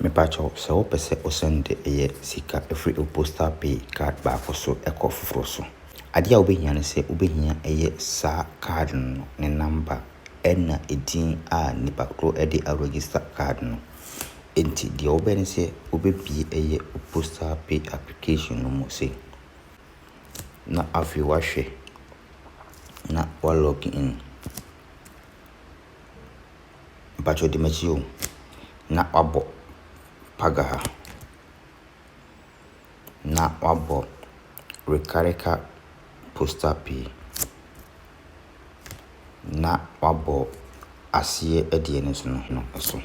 Mepakyɛw, sɛ wopɛ sɛ wosan de yɛ sika firi wo postal pay card baako so kɔ foforɔ so. Adeɛ a wobɛhia ne sɛ wobɛhia yɛ saa card no ne number ɛna edin a nipa korɔ de a register card no. Enti deɛ wobɛyɛ ne sɛ wobɛbue yɛ wo postal pay application no mu sei. Na afei wahwɛ na wa log in. Mpakyɛw di m'akyi o. Na wabɔ paga ha. Na wabɔ rekareka posta pii. Na wabɔ aseɛ ɛdeɛ no so no no so.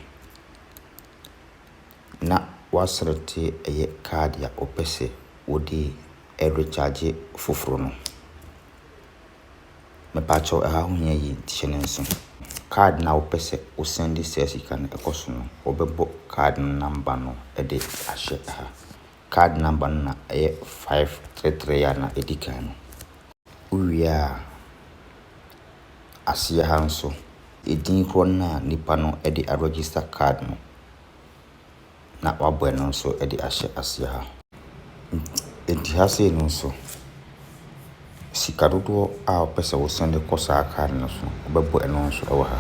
Na waselɛkte ɛyɛ card a wopɛsɛ wode ɛrekyagye foforo no. Mepa kyɛw ɛha ho hia yie nti hyɛ no nse. Card no a wopɛ sɛ wo sɛnde saa sika no ɛkɔ so no wobɛbɔ card no number no ɛde ahyɛ ɛha. Card number no na ɛyɛ five three three a na ɛdi kan no. Wo wie a aseɛ ha nso ɛdin korɔ no a nipa no ɛde a register card no. na wɔabɔ ɛno nso de ahyɛ aseɛ ha. Enti ha sei no nso, sika dodoɔ a wopɛ sɛ wo sɛne kɔ saa kaa no so no, wobɛbɔ ɛno nso wɔ ha.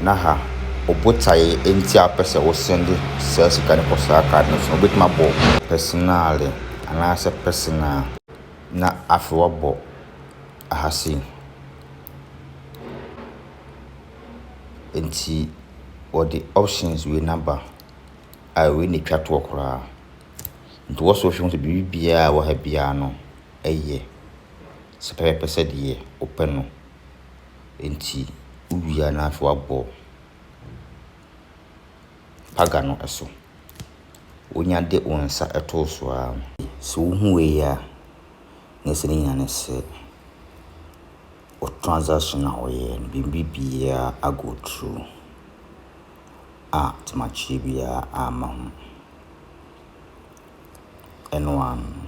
Na ha, wo botaeɛ nti a wopɛ sɛ wo sɛne saa sika no kɔ saa kaa no so, wobɛtumi abɔ pɛsinale anaasɛ pɛsinaa na afei wabɔ ha sei. Nti wɔde options wei no aba a wei na ɛtwa toɔ koraa. Nti wɔsɔ hwɛ hu sɛ biribi biara a ɛwɔ ha biara no yɛ sɛ pɛpɛpɛ sɛdeɛ wopɛ no. Nti wowie a na afei woabɔ paga no so. Wonya de wo nsa to so ara. Sɛ wohu wei a. na sɛ ne nyinaa ne sɛ wo transaction a wɔyɛɛ no biribi biara a go through a tomakyeɛ biara amma ho. Ɛno ara no.